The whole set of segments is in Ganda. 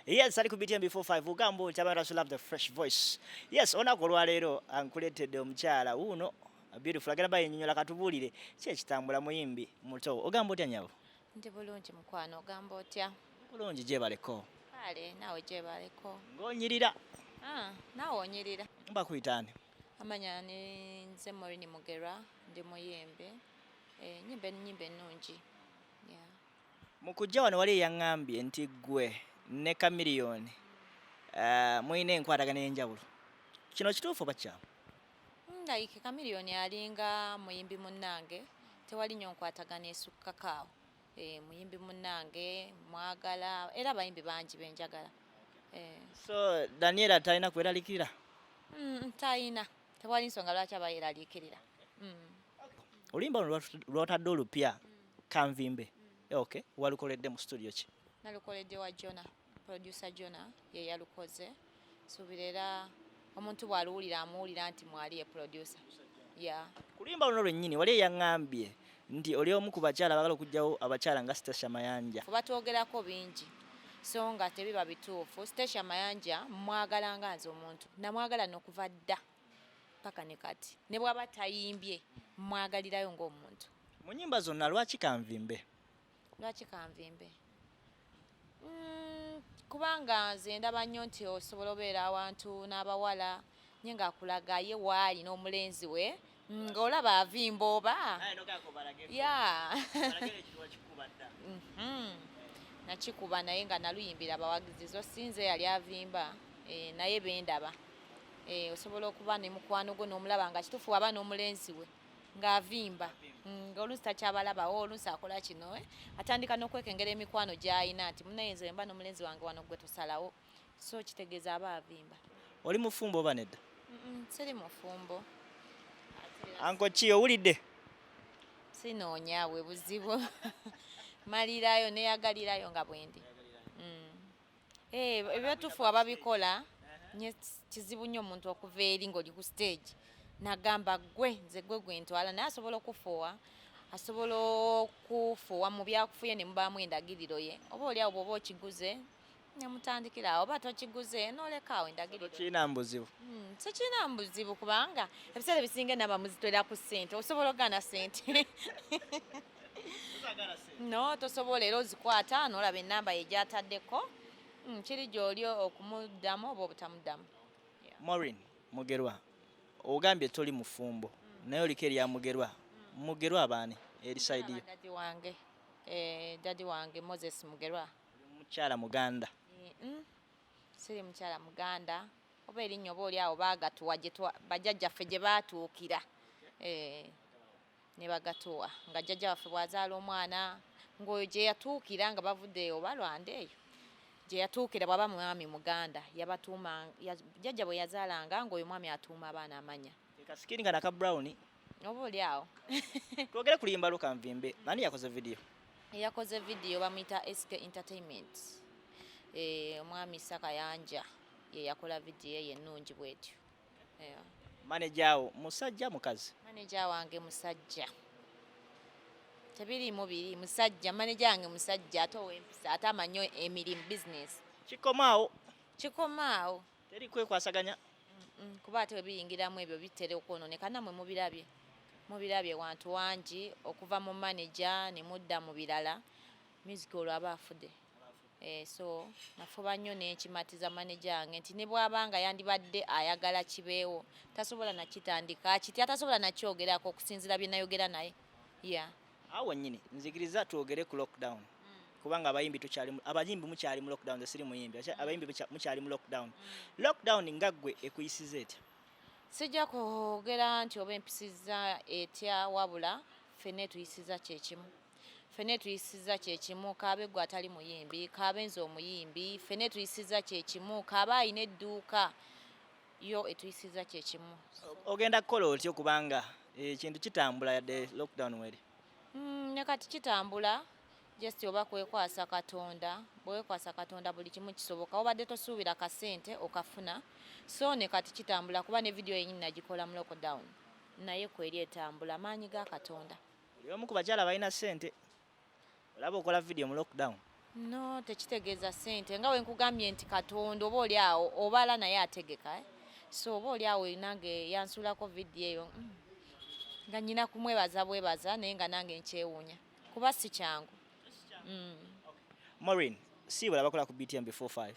Yes, ali ku BTM before 5 ugamba otya abantu asu love the fresh voice. Yes, onako olwaleero ankuleetedde omukyala wuuno beautiful agenda bayinyonyola katubulire ki ekitambula muyimbi muto ogamba otya nyabo? Ndi bulungi mukwano ogamba otya? Bulungi gyebaleko. Kale naawe gyebaleko. Ng'onyirira. Ah, naawe onyirira. Bakuyita ani? Amanya ni nze Morini Mugerwa ndi muyimbi. Eh, nyimba ennyimba ennungi. Yeah. Mu kujja wano wali eyaŋŋambye nti ggwe ne Chameleone eh, mulina enkwatagana ey'enjawulo. Kino kituufu oba kikyamu? Mm, like Chameleone alinga muyimbi munnange, tewali nnyo nkwatagana esukkako awo. Eh, muyimbi munnange mwagala era abayimbi bangi be njagala. Eh. So Daniela talina kweralikirira? Mm, talina. tewali nsonga lwaki abayeraliikirira mm. oluyimba luno lwotadde olupya mm. kanvimbe mm. eh, ok walukoledde mu studio ki nalukoledde wa jona producer jona ye yalukoze suubira era omuntu bw'aluwulira amuwulira nti mwali ye producer ya kuluyimba luno lwennyini wali eyaŋŋambye nti oli omu ku bakyala abagala okugyawo abakyala nga Stecia Mayanja. Batwogerako bingi so nga tebiba bituufu. Stecia Mayanja mwagala nga nze omuntu namwagala nokuva dda paka ne kati ne bwaba tayimbye mwagalirayo ng'omuntu. Mu nyimba zonna lwaki kanvimbe? lwaki kanvimbe mm, kubanga nze ndaba nnyo nti osobola obeera awantu n'abawala nye ngaakulaga ye waali n'omulenzi we mm, ng'olaba avimba oba ya mhm. nakikuba naye nga naluyimbira abawagizi zo sinze yali avimba eh, naye bendaba eh, osobola okuba ne mukwano gwo n'omulaba nga kitufu aba n'omulenzi we ng'avimba mm, ng'oluusi takyabalaba o oluusi akola kino eh? atandika n'okwekengera emikwano gy'alina nti munaye nze mba n'omulenzi wange wano gwe tusalawo so kitegeeza aba avimba oli mufumbo oba nedda siri mufumbo anko ki owulidde sinoonya bwe buzibu malirayo neyagalirayo nga bwendi Eh, ebyatufu ababikola nye kizibu nnyo omuntu okuva eri ng'oli ku stage nagamba gwe nze gwe gwentwala naye asobola okufuuwa asobola okufuuwa mu byakufuye ne mubaamu endagiriro ye oba oli awo bwoba okiguze nemutandikira awo oba tokiguze nolekaawo endagirkirina mu buzibu hmm, sikirina mu buzibu kubanga ebiseera ebisinga enaba muzitwera ku ssente osobola ogaana ssente no tosobola era ozikwata nolaba enamba ye gyataddeko mm, kiri gyoli okumuddamu oba obutamuddamu morin mugerwa ogambye toli mufumbo mm. naye oliko erya mugerwa mm. mugerwa abaani erisaidiyo dadi wange eh, dadi wange moses mugerwa mukyala muganda eh, siri mukyala muganda oba erinnya oba oli awo baagatuwa bajjajjaffe gye baatuukira eh. ne bagatuwa nga jjajja waffe bw'azaala omwana ng'oyo gye yatuukira nga bavudde eyo oba lwanda eyo gye yatuukira bw'aba mwami muganda yabatuuma jjajja bwe yazaalanga ng'oyo mwami atuuma abaana amanya kasikini nga naka brown oba oli awo twogere kulimba luka nvimbe ani yakoze vidiyo eyakoze vidiyo bamuyita sk entertainment eh, omwami sakayanja ye yakola vidiyo eyo ennungi bwetyo Yeah. Manager wo musajja mukazi? Manager wange musajja. Tebiriimu biri musajja, manager wange musajja ate ow'empisa ate amanyo emirimu business. Kikomaawo? Kikomaawo. Teri kwekwasaganya? Kuba ate bwe biyingiramu ebyo bitera okwonooneka nammwe mubirabye. Mubirabye wantu wangi okuva mu manager ne mudda mu birala music olwo aba afudde. Eh, so nafuba nnyo nenkimatiza maneja wange nti ne bwaba nga yandibadde ayagala kibeewo tasobola nakitandika kitya tasobola nakyogerako okusinzira bye nayogera naye ya awo wennyini nzikiriza twogere ku lockdown mm. kubanga abayimbi tukyali abayimbi mukyali mu lockdown nze siri muyimbi mm. abayimbi mukyali mu lockdown mm. lockdown nga ggwe ekuyisiza etya sijja kwogera nti oba empisizza etya wabula ffenna etuyisiza kyekimu fene tuyisiza kyekimu kaabe gwe atali muyimbi kaabe nze omuyimbi fene tuyisiza kyekimu kaabe alina edduuka yo etuyisiza kyekimu ogenda kukola otyo kubanga ekintu eh, kitambula yadde lockdown weri hmm, ne kati kitambula just oba kwekwasa katonda bwekwasa katonda buli kimu kisoboka obadde tosuubira kasente okafuna so ne kati kitambula kuba ne vidiyo yenyini nagikola mu lockdown naye kweri etambula maanyi ga katonda Oli omu ku bakyala abalina ssente. Olaba okola vidiyo mu lockdown. No, tekitegeeza ssente. Nga wenkugambye nti Katonda oba oli awo obala naye ategeka. Eh? So oba oli awo nange yansuulako vidiyo eyo mm. nga nyina kumwebaza bwebaza naye nga nange nkyewuunya kuba si kyangu. Mm. Maureen, siibula bakola ku BTM before 5.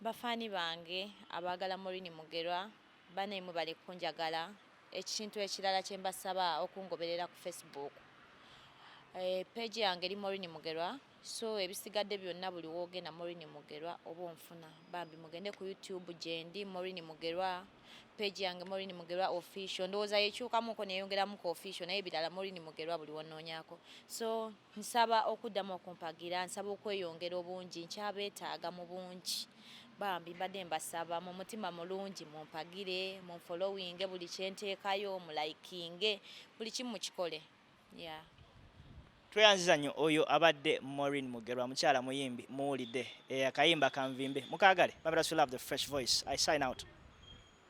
Ba fan bange abaagala Moureen Mugerwa banaye mwebale kunjagala ekintu ekirala kyembasaba okungoberera ku Facebook eh, page yange eri Moureen Mugerwa so ebisigadde byonna buli wogenda Moureen Mugerwa oba onfuna bambi mugende ku YouTube gyendi Moureen Mugerwa page yange Moureen Mugerwa official ndowooza yekyukamuko neyongeramuko official naye birala Moureen Mugerwa buli wononyako so Nsaba okuddamu okumpagira nsaba okweyongera obungi nkyabeetaaga mu bungi bambi mbadde mbasaba mu mutima mulungi mumpagire munfolowinge buli kyenteekayo mulayikinge buli kimu mukikole ya tweyanziza nnyo oyo abadde morin mugerwa mukyala muyimbi muwulidde eh, akayimba kanvimbe mukagale bamira sulove the fresh voice i sign out